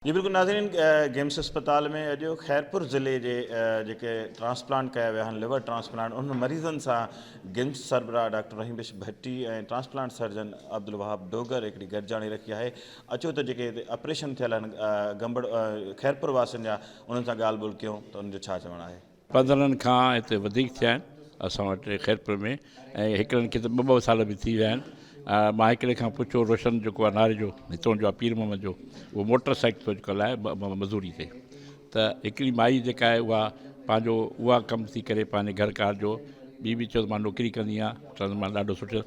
جي بلڪل ناظرين گيمس اسپتال ۾ اڄ خيرپور ضلعي جي جيڪي ٽرانسپلانٽ ڪيا ويا آهن ليور ٽرانسپلانٽ انهن مريضن سان گيمس سربراهه doctor Rahim Bakhsh Bhatti ۽ transplant surgeon Abdul Wahab Dogar هڪڙي گڏجاڻي رکي آهي اچو ته جيڪي هتي آپريشن ٿيل آهن گمبڙ خيرپور واسين جا انهن سان ڳالهه ٻولهه ڪيون ته انهن جو ڇا چوڻ آهي پندرهن کان هتي وڌيڪ ٿيا آهن اسان وٽ خيرپور ۾ ۽ هڪڙن کي ته ٻه ٻه سال به ٿي ويا آهن مان هڪڙي کان پڇيو روشن جيڪو آهي ناري جو هتون جو آهي پير محمد جو اهو موٽر سائيڪل ٿو اڄڪلهه هلائي مزوري تي ته هڪڙي مائي جيڪا آهي اها پنهنجو اها ڪم ٿي ڪري پنهنجي گهر ڪار جو ٻي به چيو ته مان نوڪري ڪندي آهيان چوندم مان ڏاڍو سٺو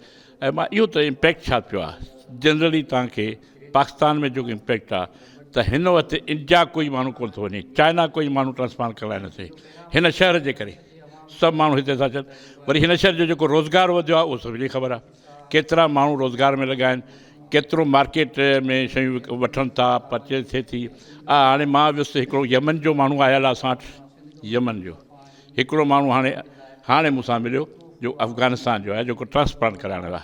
۽ مان اهو ته امپيڪٽ ڇا پيو آهي جنرلي تهانکي پاڪستان ۾ جيڪو امپيڪٽ آ ته هن وقت انڊيا ڪوئي ماڻهو ڪونه ٿو وڃي چائنا ڪوئي ماڻهو ٽرانسپلانٽ ڪرائي نه ٿي هن شهر جي ڪري سڀ ماڻهو هتي ٿا اچن وري هن شهر جو جيڪو روزگار وڌيو آ اهو سڀني کي خبر آ ڪيترا ماڻهو روزگار ۾ لڳا آهن ڪيترو مارڪيٽ ۾ شيون وٺن ٿا پرچيز ٿئي ٿي آ هاڻي مان ويس هڪڙو يمن جو ماڻهو آيل آ اسان وٽ يمن جو هڪڙو ماڻهو هاڻي هاڻي مون سان مليو جو افغانستان جو آهي جيڪو ٽرانسپلانٽ ڪرائڻ لاء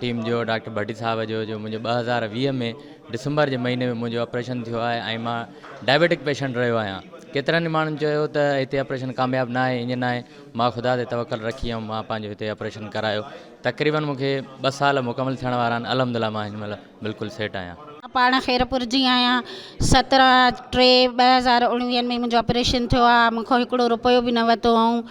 ٽيم جو ڊاڪٽر ڀٽي صاحب جو جو منهنجو ٻه هزار ويهه ۾ ڊسمبر جي مهيني ۾ منهنجو آپريشن ٿيو آهي ۽ مان ڊائبيٽڪ پيشنٽ رهيو آهيان ڪيترن ئي ماڻهن چيو ته هتي آپريشن ڪامياب نه آهي ايئن نه آهي مان خدا تي توڪل رکي ۽ مان پنهنجو هتي آپريشن ڪرايو تقريبن مون کي ٻه سال مڪمل ٿيڻ وارا آهن الحمدلله مان هن مهل بلڪل سيٽ آهيان. مان پاڻ خيرپور جي آهيان سترهن ٽي ٻه هزار اوڻويهه ۾ منهنجو آپريشن ٿيو آهي مون کان هڪڙو روپيو به نه ورتو هئائون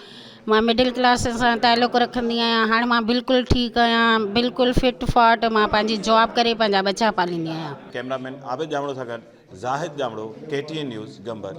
مان مڊل ڪلاس سان تعلق رکندي آهيان هاڻ مان بلڪل ٺيڪ آهيان بلڪل فٽ فاٽ مان پنهنجي جاب ڪري پنهنجا ٻچا پاليندي آهيان. ڪئميرا مين عابد ڄامڙو سان گڏ Zahid Jamro K T N news گمبر.